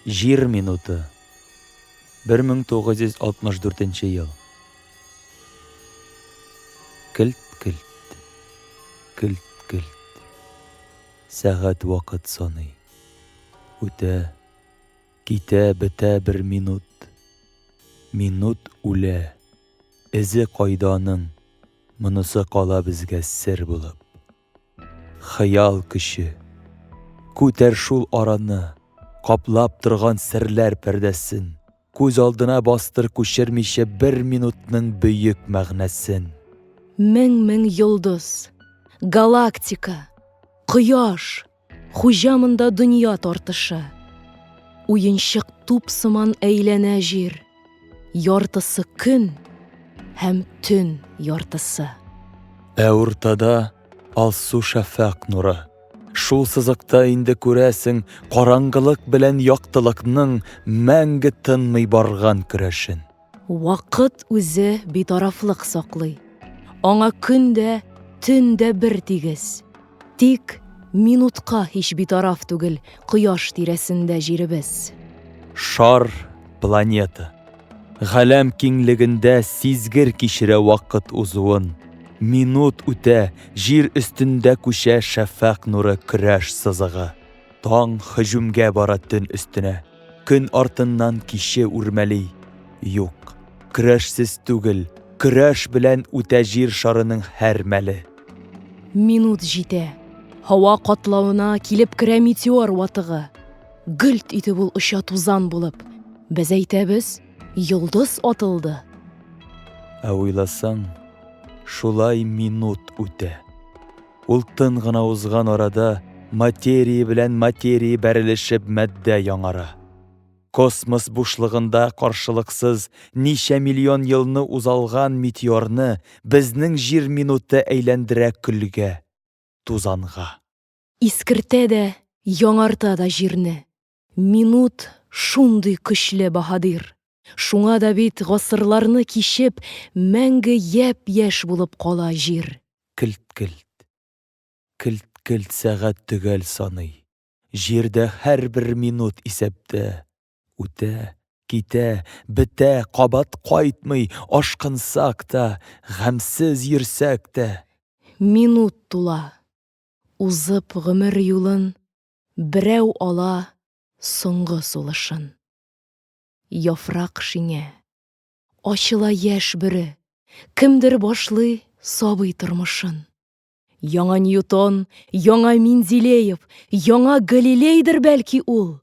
Җир минуты. 1964 ел. Килт-килт. Килт-килт. Сәгать вакыт саный. Үтә, китә, бетә бер минут. Минут үлә. Эзе кайда аның? Монысы кала безгә сер булып. Хыял көче. Күтәр шул араны, каплап торган серләр пәрдәсен, күз алдына бастыр күчермичә бер минутның бөек мәгънәсен. Мең-мең йолдыз, галактика, кояш. Хуҗа монда дөнья тартышы. Уенчык туп сыман әйләнә җир, яртысы көн һәм төн яртысы. Ә уртада алсу шәфәкъ нуры. Шул сызыкта инде күрәсең караңгылык белән яктылыкның мәңге тынмый барган көрәшен. Вакыт үзе битарафлык саклый. Аңа көн дә, төн дә бер тигез. Тик минутка һич битараф түгел Кояш тирәсендә җиребез. Шар, планета. Галәм киңлегендә сизгер кичерә вакыт узуын. Минут үтә, Җир өстендә күчә шәфәкъ нуры көрәш сызыгы. Таң һөҗүмгә бара төн өстенә. Көн артыннан киче үрмәли. Юк, көрәшсез түгел, көрәш белән үтә җир шарының һәр мәле. Минут җитә. Һава катлавына килеп керә метеор ватыгы. Гөлт итеп ул оча тузан булып. Без әйтәбез, йолдыз атылды. Ә уйласаң, шулай минут үтә. Ул тын гына узган арада материя белән материя бәрелешеп матдә яңара. Космос бушлыгында каршылыксыз ничә миллион елны узалган метеорны безнең җир минуты әйләндерә көлгә, тузанга. Искертә дә, яңарта да җирне. Минут шундый көчле баһадир. Шуңа да бит гасырларны кичеп, мәңге япь-яшь булып кала җир. Келт-келт. Келт-келт сәгать төгәл саный. Җирдә һәрбер минут исәптә. Үтә, китә, бетә, кабат кайтмый, ашкынсак та, гамьсез йөрсәк тә. Минут тула. Узып гомер юлын Берәү ала соңгы сулышын. Яфрак шиңә. Ачыла яшь бөре. Кемдер башлый сабый тормышын. Яңа Ньютон, яңа Менделеев, яңа Галилейдер, бәлки, ул.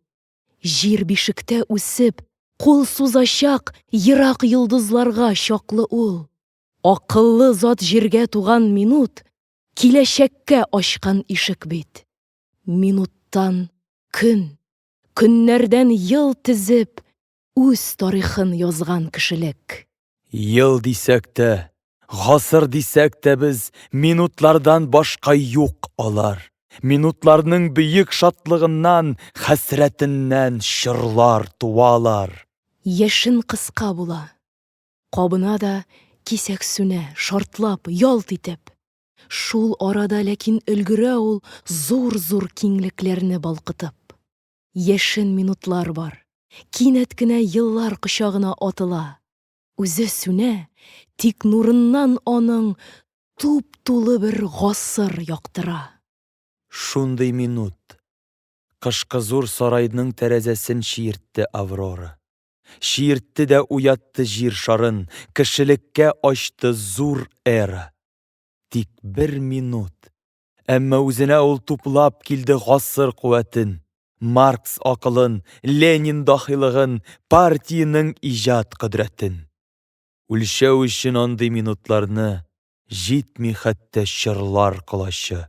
Җир бишектә үсеп, кул сузачак ерак йолдызларга чаклы ул. Акыллы зат җиргә туган минут, киләчәккә ачкан ишек бит. Минуттан көн, көннәрдән ел тезеп, үз тарихын язган кешелек. Ел дисәк тә, гасыр дисәк тә без, минутлардан башка юк алар. Минутларның бөек шатлыгыннан, хәсрәтеннән чорлар туалар. Яшен кыска була, кабына да кисәк сүнә, шартлап, ялт итеп. Шул арада ләкин өлгерә ул зур-зур киңлекләрне балкытып. Яшен минутлар бар. Кинәт кенә еллар кочагына атыла. Үзе сүнә, тик нурыннан аның туп-тулы бер гасыр яктыра. Шундый минут. Кышкы зур сарайның тәрәзәсен чиертте Аврора. Чиертте дә уятты җир шарын, Кешелеккә ачты зур эра. Тик бер минут. Әмма үзенә ул туплап килде гасыр куәтен, Маркс акылын, Ленин дахилыгын, партиянең иҗат кодрәтен. Үлчәү өчен андый минутларны Җитми хәтта чорлар колачы.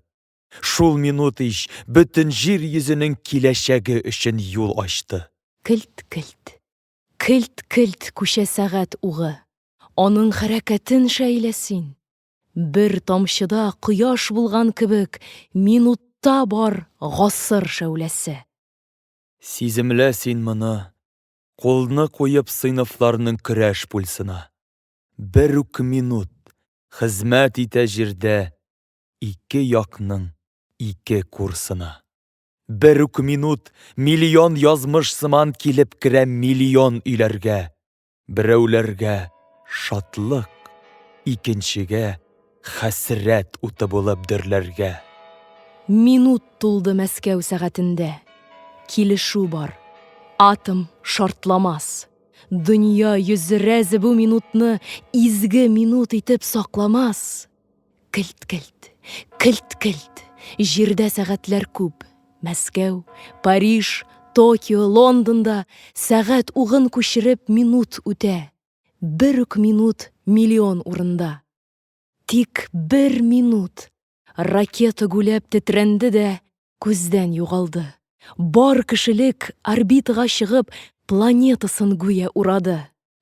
Шул минут ич бөтен җир йөзенең киләчәге өчен юл ачты. Келт-келт, келт-келт күчә сәгать угы. Аның хәрәкәтен шәйлә син! Бер тамчыда кояш булган кебек, минутта бар гасыр шәүләсе. Сиземлә син моны, кулны куеп сыйныфларның көрәш пульсына. Бер үк минут, хезмәт итә җирдә Ике якның ике курсына. Бер үк минут миллион язмыш сыман килеп керә миллион өйләргә. Берәүләргә, шатлык, икенчегә, хәсрәт уты булып дөрләргә. Минут тулды Мәскәү сәгатендә. Килешү бар. Атом шартламас. Дөнья йөзе рәзе бу минутны изге минут итеп сакламас. Келт-келт, келт-келт, җирдә сәгатьләр күп. Мәскәү, Париж, Токио, Лондонда сәгать угын күчереп минут үтә. Бер үк минут миллион урында. Тик бер минут ракета гүләп тетрәнде дә күздән югалды. Бар кешелек орбитага чыгып планетасын гүя урады.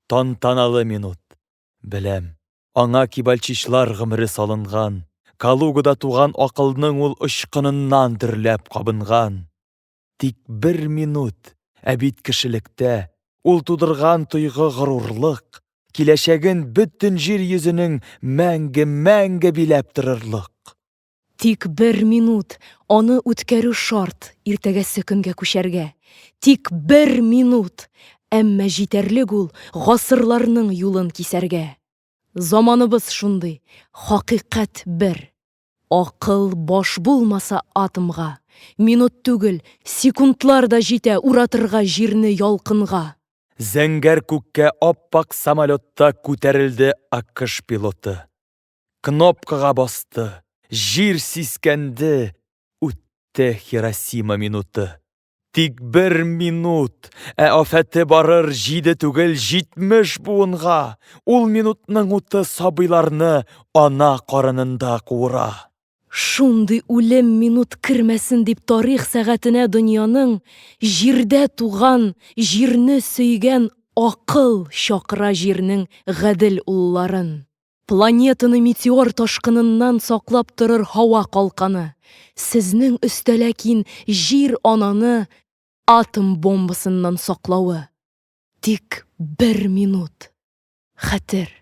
Тантаналы минут. Беләм, аңа кибальчичлар гомере салынган, Калугада туган акылның ул очкыныннан дөрләп кабынган. Тик бер минут, ә бит кешелектә ул тудырган тойгы-горурлык, киләчәген бөтен җир йөзенең мәңге-мәңге биләп торырлык. Тик бер минут, аны үткәрү шарт, иртәгәсе көнгә күчәргә. Тик бер минут! Әмма җитәрлек ул гасырларның юлын кисәргә. Заманыбыз шундый, хакыйкать бер. Акыл баш булмаса атомга, минут түгел, секундлар да җитә уратырга җирне ялкынга. Зәңгәр күккә ап-ак самолетта күтәрелде АКШ пилоты. Кнопкага басты, җир сискәнде, үтте Хиросима минуты. Тик бер минут, ә афәте барыр җиде түгел, җитмеш буынга. Ул минутның уты сабыйларны ана карынында куыра. Шундый үлем минут кермәсен дип тарих сәгатенә дөньяның җирдә туган, җирне сөйгән акыл чакыра җирнең гадел улларын. Планетаны метеор ташкыныннан саклап торыр һава калканы, сезнең өстә ләкин Җир ананы атом бомбасыннан саклавы. Тик бер минут. Хәтер.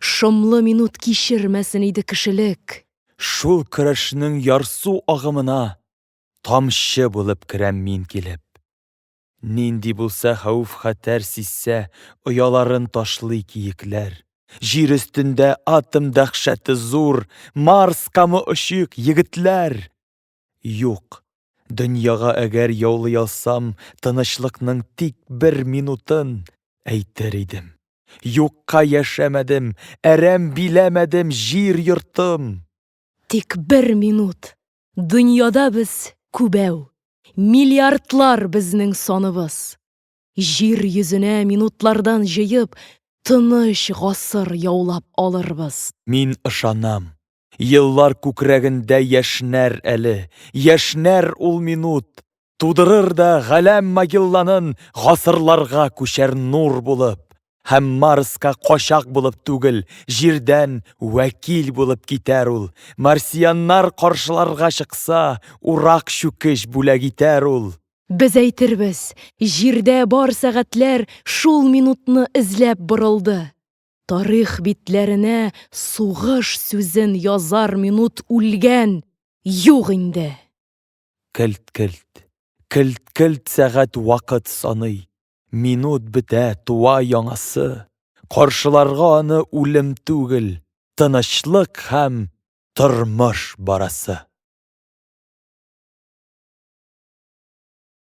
Шомлы минут кичермәсен иде кешелек. Шул көрәшнең ярсу агымына тамчы булып керәм мин килеп. Нинди булса хәвеф-хәтәр сизсә, ояларын ташлый киекләр. Җир өстендә атом дәхшәте зур, Марскамы очыйк, егетләр! Юк, дөньяга әгәр яулый алсам, тынычлыкның тик бер минутын, әйтер идем. Юкка яшәмәдем, әрәм биләмәдем җир-йортым! Тик бер минут! Дөньяда без күбәү, миллиардлар безнең саныбыз. Җир йөзенә минутлардан җыеп, тыныч гасыр яулап алырбыз. Мин ышанам, еллар күкрәгендә яшьнәр әле, яшьнәр ул минут, Тудырыр да Галәм Магелланын гасырларга күчәр нур булып, һәм Марска качак булып түгел, җирдән вәкил булып китәр ул, марсианнар каршыларга чыкса, урак-чүкеч бүләк итәр ул. Без әйтербез, җирдә бар сәгатьләр шул минутны эзләп борылды. Тарих битләренә сугыш сүзен язар минут үлгән, юк инде! Келт-келт. Келт-келт сәгать вакыт саный. Минут бетә, туа яңасы. Каршыларга аны үлем түгел, тынычлык һәм тормыш барасы.